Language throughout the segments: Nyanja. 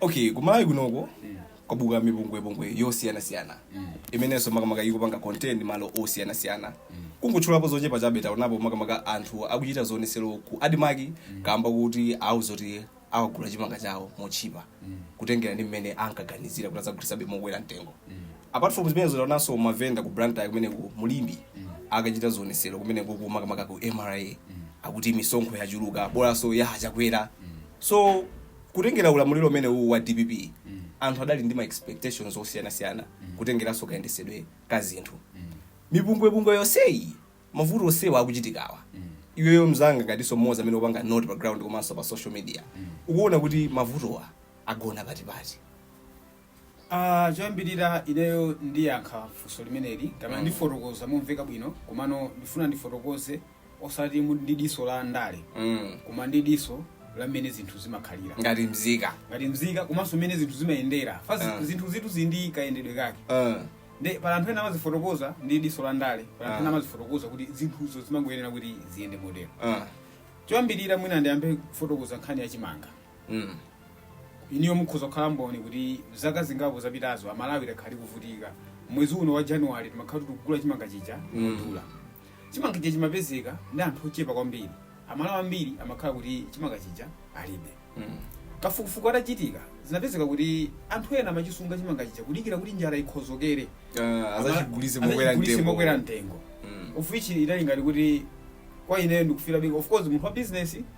okay ku Malawi kunoko kwabuka mipungwepungwe yosiyanasiyana imenenso makamaka ikupanga content malo osiyanasiyana kungotchulapo zochepa chabe taonapo makamaka anthu akuchita zionesero ku ADMARC kaamba kuti awauza kuti awagula chimanga chawo motchipa kutengera ndi mmene ankaganizira kuti azagulitsabe mokwera mtengo apart from zimenezo taonanso mavenda ku blantyre kumeneko mu Limbe akachita zionesero kumeneko makamaka ku mra akuti misonkho yachuluka bola komanso ya chakwera so kutengera ulamuliro umene uwu wa dpp anthu adali ndi ma expectations osiyanasiyana kutengeranso kayendesedwe ka zinthu mipungwepungwe yonseyi mavuto onsewa akuchitikawa iweyo mzanga ngatinso mmodzi amene upanga note pa ground komanso pa social media ukuona kuti mavutowa agona patipati Ah, choyambirira ineyo ndiyankha funso limeneli kapena Mm. ndifotokoza momveka bwino komano ndifuna ndifotokoze osati mu- ndi diso la ndale mm. koma ndi diso la mmene zinthu zimakhalira ngati mzika ngati mzika komanso mmene zinthu zimayendera fa Ah. zinthu zinthu zili ndi kayendedwe kake uh. nde pala anthu ena amazifotokoza ndi diso la ndale pala anthu ena Ah. amazifotokoza kuti zinthuzo zimangoyenera kuti ziyende motero uh. choyambirira mwina ndiyambe kufotokoza nkhani ya chimanga mm. inuyo mukhoza kukhala mboni kuti zaka zingapo zapitazo amalawi takhala tikuvutika mwezi uno wa January timakhala tikugula chimanga chija modula chimanga chija chimapezeka ndi anthu ochepa kwambiri amalawi ambiri amakhala kuti chimanga chija alibe Mm. kafukufuku atachitika zinapezeka kuti anthu ena amachisunga chimanga chija kudikira kuti njala ikwere Ah, azachigulise Ama- mokwera azachigulise mtengo. mokwera mtengo Mm. of which idali ngati kuti kwa ine ndikufira big of course munthu wa business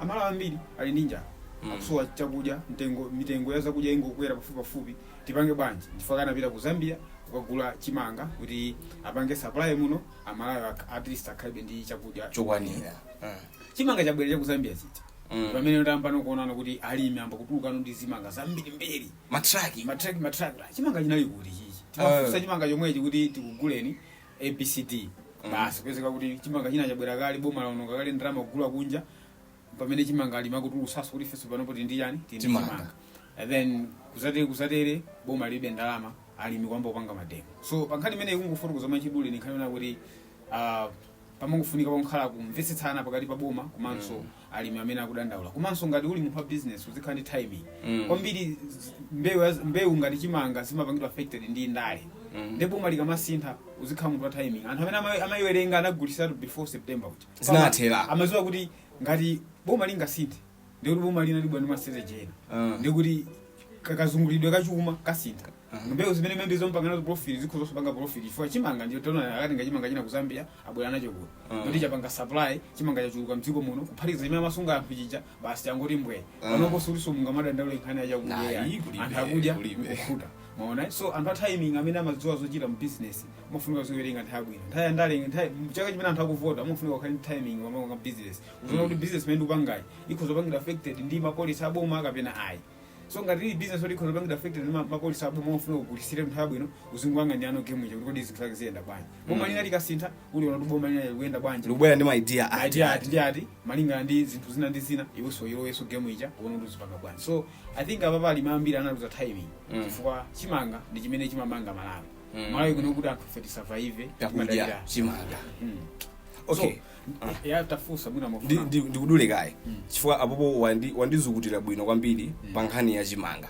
Amalawi ambiri ali ndi njala Mm. akusowa chakudya mtengo mitengo ya zakudya ingokwera pafupi pafupi tipange bwanji chifukwa chake anapita ku zambia kukagula chimanga kuti apange supply muno amalawi ak- at least akhalebe ndi chakudya chokwanira Mm. chimanga chabwera cha ku zambia chija Mm. pamene tayambano kuonana kuti alimi amba kutulukano ndi zimanga zambirimbiri matraki matraki matraki chimanga chinali kuti chimenechi timafunsa chimanga chomwechi kuti tikuguleni abcd basi kupezeka kuti chimanga china chabwera kale boma lawononga kale ndalama kugula kunja pamene chimanga alimi akutulutsanso kuti ifenso panopo tili ndi chani tili ndi Chimanga. chimanga and then kuzatero kuzatero boma lilibe ndalama alimi kuyamba kupanga mademo so pankhani imene kungofotokoza mwachidule ndi nkhani yonena kuti ah, pamangofunika pakhale kumvetsetsana pakati pa boma komanso alimi amene akudandaula komanso ngati uli munthu wa business uzikhala ndi timing Mm. kwambiri z- mbewu yaz- mbewu ngati chimanga zimapangidwa affected ndi ndale Mm. ndipo boma likamasintha uzikhala munthu wa timing anthu amene ama- amayiwerenga anagulisatu before september kuti Zinatheka. amaziwa kuti ngati boma lingasinthe ndikuti boma lina libwera ndi ma strategy ena Ah. ndikuti ka- kazungulidwe ka chuma kasintha mbewu zimene maybe timapanga nazo profit sizikhoza kupanga profit chifukwa chimanga ndiye taona akatenga chimanga china ku zambia abwera nacho kuno Mm. kuti chapanga supply chimanga chachuluka mdziko muno kuphatikiza chimene amasunga anthu chija basi changoti mbwee Mm. panopo sikulinso madandaulo nkhani ya chakudya Ayi, yayi. kulibe, anthu akudya kulibe. nkukhuta mwaona so anthu a timing amene amadziwa zochita mu business amafunika kuziwerenga nthawi bwino nthawi yandale nthawi chaka chimene anthu akuvota amafunika kukhala ndi timing popanga business uziona kuti business imene ndikupangayi ikhoza kupangidwa affected ndi ma policy aboma kapena ayi so ngati ili business yoti ikhoza kupangidwa affected ndi ma- ma policy aboma ofunika ukhale munthu abwino uzingopanga ndi anthu game ija kuti kodi zinthu zake ziyenda bwanji boma lina likasintha uziona kuti boma lina likuyenda bwanji ndikubwera ndi ma idea ati idea ati ndi ati malingana ndi zinthu zina ndi zina iwenso ulowenso game ija uone kuti uzipanga bwanji so i think apa pali ambiri analuza timing Mm. chifukwa chimanga ndi chimene chimamanga malawi Mm. malawi kuno kuti anthu ife tisurvive takudya timadalira. chimanga Mm. okay ya tafunsa mwina ndi- ndikufuna ndi- ndikudule kaye chifukwa apapa wandi- wandizukutira bwino kwambiri pa nkhani ya chimanga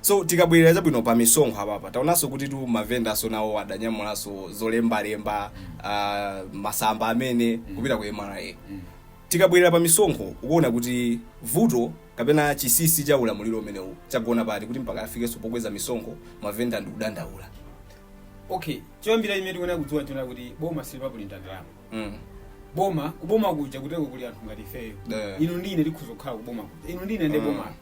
so tikabwerera chabwino pa misonkho apapa taonanso kutitu mavendanso nawo adanyamulanso zolembalemba ah, masamba amene kupita ku mra tikabwerera pa misonkho ukuona kuti vuto kapena chinsinsi cha ulamuliro umenewu chagona pati kuti mpaka afikenso pokweza misonkho mavenda nkudandaula okay choyambira imene tikuona kudziwa nchona kuti boma silimaprinta ndalama Mm. boma kuboma kuja kutereko kuli anthu ngati ifeyo Yeah. inu ndine tikhoza kukhala kuboma kuja inu ndine ndi Mm. boma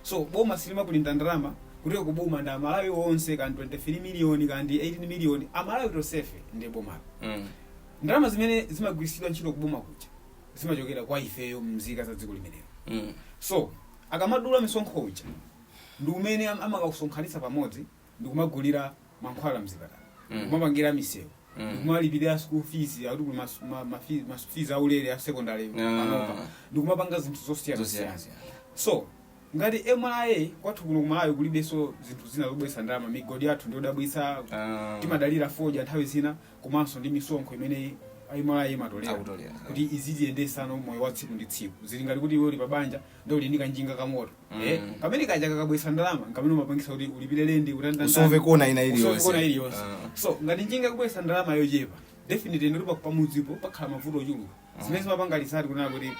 so boma silimaprinta ndalama kutereko kuboma ndi amalawi onse kaya ndi 23 miliyoni kaya ndi 18 miliyoni amalawi tonsefe ndi boma Mm. ndalama zimene zimagwiritsidwa ntchito kuboma kuja zimachokera kwa ifeyo mzika za dziko limenelo Mm. so akamadula misonkho uja ndi umene am- amakausonkhanitsa pamodzi ndikumagulira mankhwala mzipatala Mm. ndikumapangira misewu Mm. ndikumalipirira school fees akuti kuli mas- ma- ma fees- ma school fees aulere a secondary Ah. panopa ndikumapanga zinthu zosiyana zosiyana zosiyana so ngati mra kwathu kuno kumalawi kulibenso zinthu zina zobweretsa ndalama migodi yathu ndiyodabwitsa Ah. timadalira fodya nthawi zina komanso ndi misonkho imene mra imatolera Akutolera. kuti izitiyendetsa ndi moyo wa tsiku ndi tsiku zili ngati kuti iwe uli pabanja ndiye uli ndi kanjinga kamoto Eh, kamene kaja kakabweretsa ndalama nkamene kamapangitsa kuti ulipire lendi utandandanda. Usove china chilichonse. Usove china chilichonse. Ah. so ngati njinga ikubweretsa ndalama yochepa definitely ndiye pamudzipo pakhala mavuto ochuluka zimene zimapanga result kunena kuti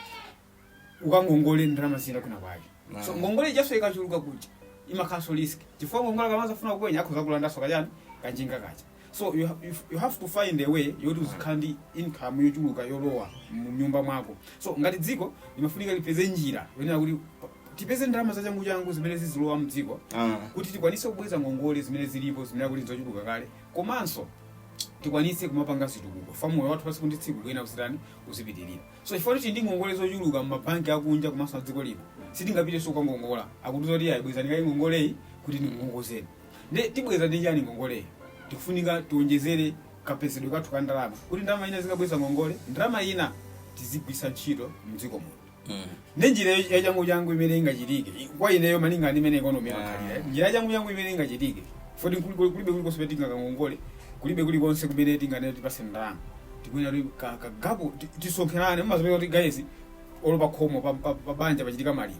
ukangongole ndalama zina kwinakwake Ah. so ngongole ijanso ikachuluka kuja imakhalanso risk chifukwa ngongole akamadzafuna kukulanda akhoza kulandanso kachani kanjinga kaja So you, ha- you, you have to find a way yoti uzikhala ndi income yochuluka yolowa mu nyumba mwako. So ngati dziko limafunika lipeze njira yonena kuti pa- tipeze ndalama zachanguchangu zimene zizilowa mdziko Ah. kuti tikwanise kubweza ngongole zimene zilipo zimene kuti zochuluka kale komanso tikwanise kumapanga zitukuko komanso moyo wathu wa tsiku ndi tsiku ukuyenera kuchitani uzipitirira so chifukwa kuti ndi ngongole zochuluka mmabanki akunja komanso adziko lino sitingapitenso kukangongola akutiuza kuti ayi bwezani kaye ngongoleyi kuti ndikungongozeni nde tibweza ndi chani ngongoleyi tikufunika tiwonjezere kapezedwe kathu ka ndalama kuti ndalama ina izikabweza ngongole ndalama ina tizigwiritsa ntchito mdziko muno Mm. ndi njira ya changu changu imene ingachitike I- kwa ineyo malinga ndi imene ikonomi yakhalira njira ya changu changu imene ingachitike poti kuli- kuli- kulibe kulikonse pamene tingakangongole kulibe kulikonse kumene tinganene tipatseni ndalama tikuyenera kuti ka- kagapo ti- tisonkherane mumazapeka kuti guys olo pakhomo pa- pa pa banja pachitika maliro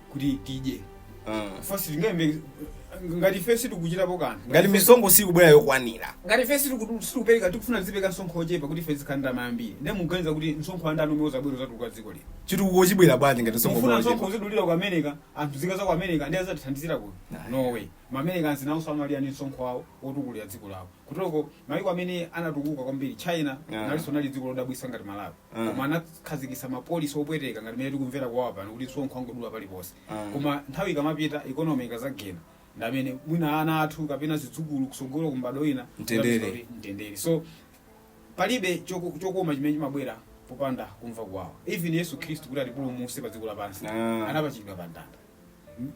kuti tidye Ah. Chifukwa sitingalembe- ngati ife sitikuchitapo kanthu ngati misonkho sikubwera yokwanira ngati ife sitiku- sitikupereka tikufuna tizipereka msonkho ochepa kuti ife tizikhala ndi ndalama yambiri ndiye muganiza kuti msonkho wa ndani umene uzabwera uzatukula dziko lino chitukuko chibwera bwanji ngati mufuna msonkho msonkho uzidulidwa ku america anthu nzika za ku america ndiye azatithandizire ku Nah. norway maamericans nawonso amalira ndi msonkho wawo otukulira dziko lawo kutoko maiko amene anatukuka kwambiri china Nah. nalinso nali dziko lodabwisa ngati malawi Mm. koma anakhazikitsa ma policy opweteka ngati mene tikumvera kuwawa pano kuti msonkho angodula paliponse Mm. koma nthawi ikamapita ikonomi ikazagena ndi amene mwina ana athu kapena zidzukulu kusogolo ku mbadwo ina Mtendere. azapeza mtendere so palibe choku- chokoma chimene chimabwera popanda kumva kuwawa even yesu khristu kuti atipulumutse pa dziko lapansi Ah. anapachikidwa pa mtanda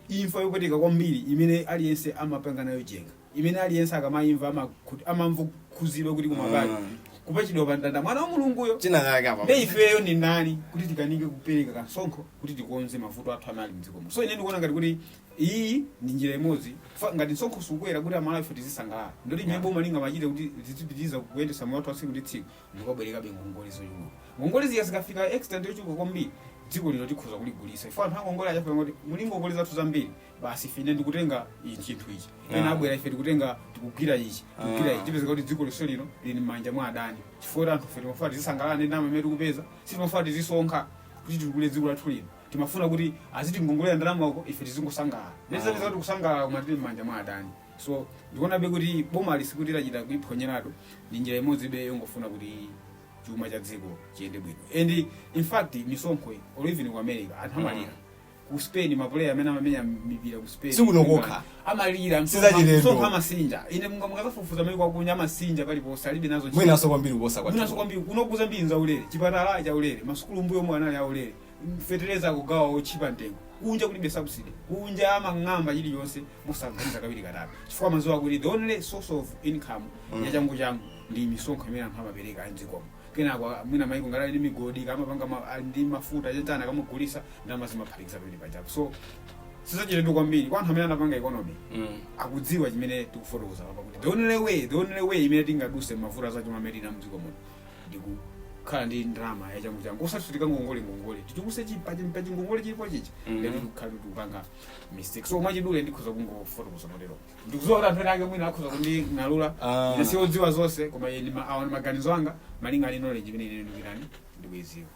imfa yopweteka kwambiri imene aliyense amapanga nayo njenga imene aliyense akamaimva amakhu- amamva kukhudzidwa kuti komadi Mm. kupachikidwa pa mtanda mwana wa mulunguyo china chake apa nde ifeyo ndi ndani kuti tikanike kupereka kamsonkho kuti tikonze mavuto athu amene ali mdziko muno so ine ndikuona ngati kuti iyi ndi njira imodzi Fa- ngati msonkho sukwera kuti amalawife tizisangalala ndi zoti boma lingamachite kuti tizipitiriza kuyendesa moyo wathu wa tsiku ndi tsiku ndikumabwerekabe ngongole zochuluka ngongole zija zikafika extent yochuluka kwambiri dziko lino tikhoza kuligulisa poti anthu angongole azafika kuti muli ngongole zathu zambiri basi ife ine ndikutenga ichi chinthu ichi ena Ah. abwera ife tikutenga tikugwira ichi tikugwira Ah. ichi tipezeka kuti dziko lonse lino lili m'manja mwa adani chifukwa kuti anthu ife timafuna tizisangalala ndi ndalama imene tikupeza sitimafuna tizisonkha kuti titukule dziko lathu lino timafuna kuti azitingongolera ndalama uko ife tizingosangalala tizapezeka kuti kusangalala koma tili m'manja mwa adani so ndikuonabe kuti bomali sikuti lachita kuiphonyeratu ndi njira imodzibe yongofuna kuti chuma cha dziko chiyende bwino and in fact misonkho iyi, or even ku america anthu amalira ku spain mapuleya amene amamenya mipira ku spain Sikuno kokha. amalira Sizachilendo. msonkho amasinja ine munga- mukazafufuza maiko akunja amasinja paliponse alibe nazo ntchito. mwinaso kwambiri kuposa mwinaso kwathu kwambiri kunoku zambiri zaulere chipatala chaulere masukulu mbuyomu anali aulere feteleza akugawa otchipa mtengo kunja kulibe subsidy kunja amang'amba chilichonse mosaganiza kawiri katatu chifukwa amadziwa kuti the only source of income Mm. ya changu changu ndi misonkho imene anthu amapereka amdzikomo kenako ah, mwina maiko ngati ali ndi migodi kamapanga ma- ali ndi mafuta chachana kamagulisa ndalama zimaphatikizana pamenepo chapo so sizachilendo kwambiri kwa anthu amene anapanga economics Mm. akudziwa chimene tikufotokoza apa kuti the only way the only way imene tingaduse mavuto azachuma amene tili nawo mdziko muno ndikukhala ndi ndalama yachangu changu osati kuti tikangongole ngongole tichulukitse pachingongole chilipo chichi Mhm. ndiye tikukhala kuti tikupanga mistake so mwachidule ndikhoza kungofotokoza motero ndikuziwa kuti anthu ena ake mwina akhoza kunding'alula Ah. ine si odziwa zonse koma iyi ndi ma- awa ndi maganizo anga malingana ndi knowledge imene ine ndili nayo ndikuiziwa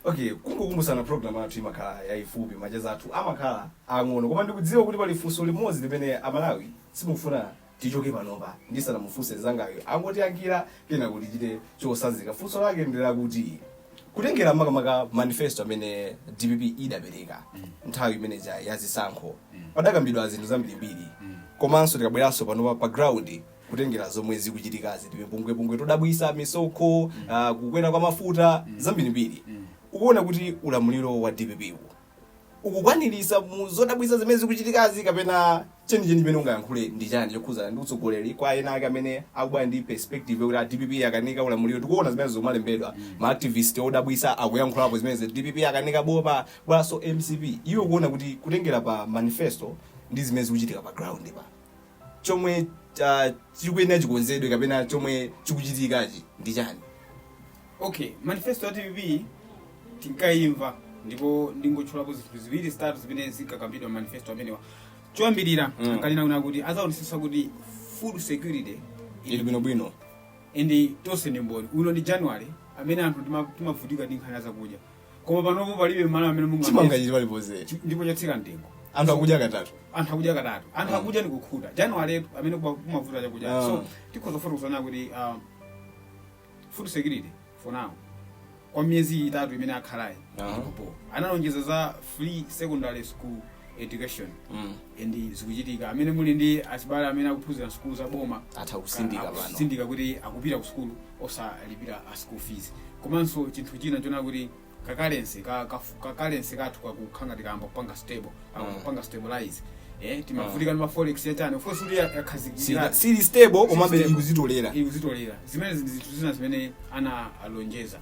okay kungokumbusana program athu imakhala yayifupi macheza athu amakhala ang'ono koma ndikudziwa kuti pali funso limodzi limene amalawi simufuna Tichoke panopa ndisanamufunse nzangayu angotiyankhira kenako tichite chotsanzika. Funso lake ndi lakuti kutengera makamaka manifesto amene dpp idapereka nthawi imene ja ya zisankho padakambidwa zinthu zambirimbiri komanso tikabweranso panopa pa ground kutengera zomwe zikuchitikazi timipungwepungwe todabwisa misonkho ah, kukwera kwa mafuta zambirimbiri ukuona kuti ulamuliro wa dpp uwu ukukwanirisa mu zodabwisa zimene zikuchitikazi kapena chenicheni chimene ungayankhule ndi chani chokhudza ndi utsogoleri kwa ena ake amene akubwera ndi perspective yokuti a dpp akanika ulamuliro tikuona zimene zomalembedwa ma activist odabwisa akuyankhulapo zimene dpp akanika bola bwanso mcp iwe ukuona kuti kutengera pa manifesto ndi zimene zikuchitika pa ground pa chomwe ah, chikuyenera chikonzedwe kapena chomwe chikuchitikachi ndi chani okay manifesto ya dpp tinkayimva ndipo ndingotchulapo zinthu ziwiri zitatu zimene zinkakambidwa manifesto amenewa choyambirira Mm. ankanena kunena kuti adzaonetsetsa kuti food security ili bwinobwino and tonse ndi mboni uno ndi january amene anthu tima- timavutika ndi nkhani ya zakudya koma panopo palibe malo amene mulibe chimanga chili paliponse Chi- ndipo chatsika mtengo anthu akudya katatu anthu akudya katatu anthu akudya ni kukhuta januwaletu amene kuba- kumavuta chakudya Ah. so tikhoza kufotokozana kuti um, food security for now kwa miyezi itatu imene akhalayi Aha. ilipo analonjeza za free secondary school education Mm. and zikuchitika amene muli ndi achibale amene akuphunzira sukulu za boma atha kutsindika pano kutsindika kuti akupita ku sukulu osalipira ma school fees komanso chinthu china chona kuti kacurrency ka- ka- kacurrency kathu kakukhala ngati kayamba kupanga stable kayamba Mm. kupanga stabilize eh timavutika ndi ma forex yachani of course kuti Sili- yakhazikira sili stable komabe stable. ikuzitolera ikuzitolera zimenezo zinthu zina zimene ana alonjeza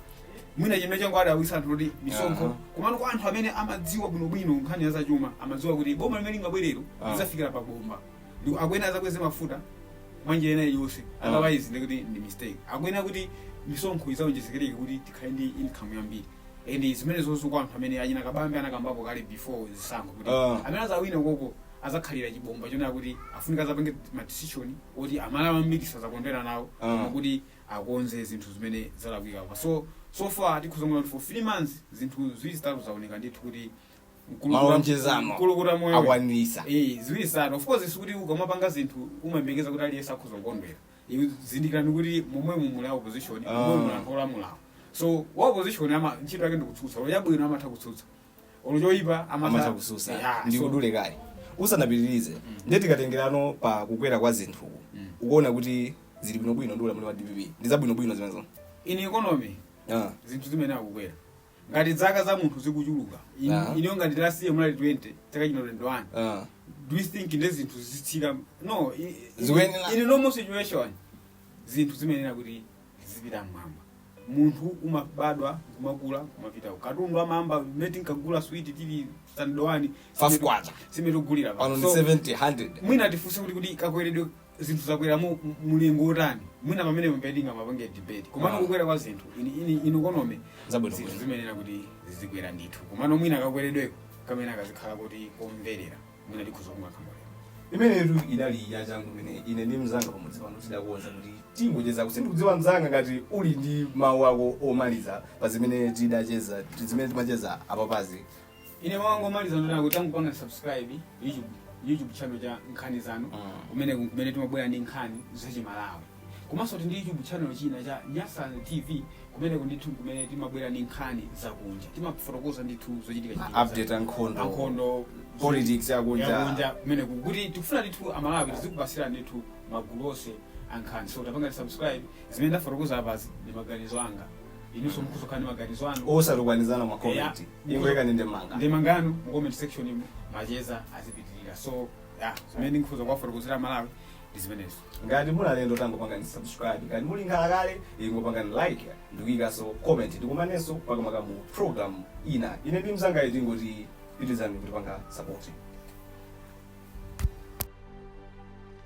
mwina chimene changowadabwitsa anthu kuti misonkho Aha. komano kwa anthu amene amadziwa bwinobwino nkhani ya zachuma amadziwa kuti boma limene lingabwerelo Ah. lidzafikira pa bomba ndipo akuyenera adzakweze mafuta mwa njira ina iliyonse Ah. otherwise ndi kuti ndi mistake akuyenera kuti misonkho idzawonjezekereke kuti tikhale ndi income yambiri and zimenezozo kwa anthu amene achina Kabambe anakambapo kale before zisankho kuti Ah. amene azawina koko azakhalira chibomba chonena kuti afunika azapange madecision oti aMalawi ambiri sazakondwera nawo Ah. koma kuti akonze zinthu zimene zalakwika apa so so far tikhoza kuona kuti for three months zinthu ziwiri zitatu zaoneka ndithu kuti mkulukuta- malonjezano mkulukuta moyo akwaniritsa Eh, ziwiri zitatu of course sikuti ukamapanga zinthu umayembekeza kuti aliyense akhoza kukondwera Iwe zindikirani kuti momwe mumuli ya opposition Ah. momwe muli a olamulawo so wa opposition ama ntchito yake ndikutsutsa olo yabwino amatha kutsutsa olo choyipa amatha kususa Yeah, ndi so- ndikudule kaye usanapitirize ndiye tikatengerano pa kukwera kwa zinthu ukuona kuti zili bwinobwino ndi ulamuliro wa dpp ndi zabwinobwino zimenezo in economy Ah, zinthu zimenezi kukwera ngati dzaka za munthu zikuchuluka in- Ah. ineyo ngati last year ndinali 20 chaka chino 21 ah. do you think ndi zinthu zitsika no i- i- Zikuyenera. in a normal situation zinthu zimayenera kuti zizipita mmwamba munthu umabadwa kumakula kumapita katundu amayamba mmene tinkagula switi tili standard one Five kwacha. simene tikugulira pano ndi 70 100 mwina tifunse kuti kuti kakweredwe zinthu zakwera mu mu- mulingo utani mwina pamene mpomwe tingamapange debate komano Ah. kukwera kwa zinthu ini ini in economy Zabwino zinthu bwino. zimayenera kuti zizikwera ndithu komano mwina kakweredweko kamene kazikhala kuti komverera mwina tikhoza kumanga choncho imenetu idali yachangu imene ine ndi mzanga pamodzi pano tidakonza kuti tingocheza kuti sindikudziwa mzanga ngati uli ndi mawu ako omaliza pa zimene tidacheza ti- zimene timacheza apapazi ine mawu anga omaliza ndi onena kuti angopanga subscribe youtube youtube channel cha nkhani zanu Mm. kumene kumene timabwera ndi nkhani zachimalawi Komanso tili ndi YouTube channel china cha Nyasan TV kumeneko ndithu nkumene timabwera ndi nkhani zakunja. Timafotokoza ndithu zochitika Ma update za- a nkhondo. a nkhondo Politics yakunja. yakunja kumene kuti tikufuna ndithu amalawi tizikupatsirani ndithu magulu onse a nkhani so tapangani subscribe zimene ndafotokoza apazi ndi maganizo anga inunso mukhoza kukhala ndi maganizo anu osatukwanizana ma comment Yeah. ingoikani maganizo anu mu comment section imu macheza azipitirira so yeah, zimene ndikhoza kuwafotokozera amalawi ndi zimenezo ngati muli alendo tangopangani subscribe ngati muli nkhalakale ingopangani like ndikuyikanso comment tikumanenso makamaka mu program ina ine ndi mzangayo tingoti pitirizani kutipanga support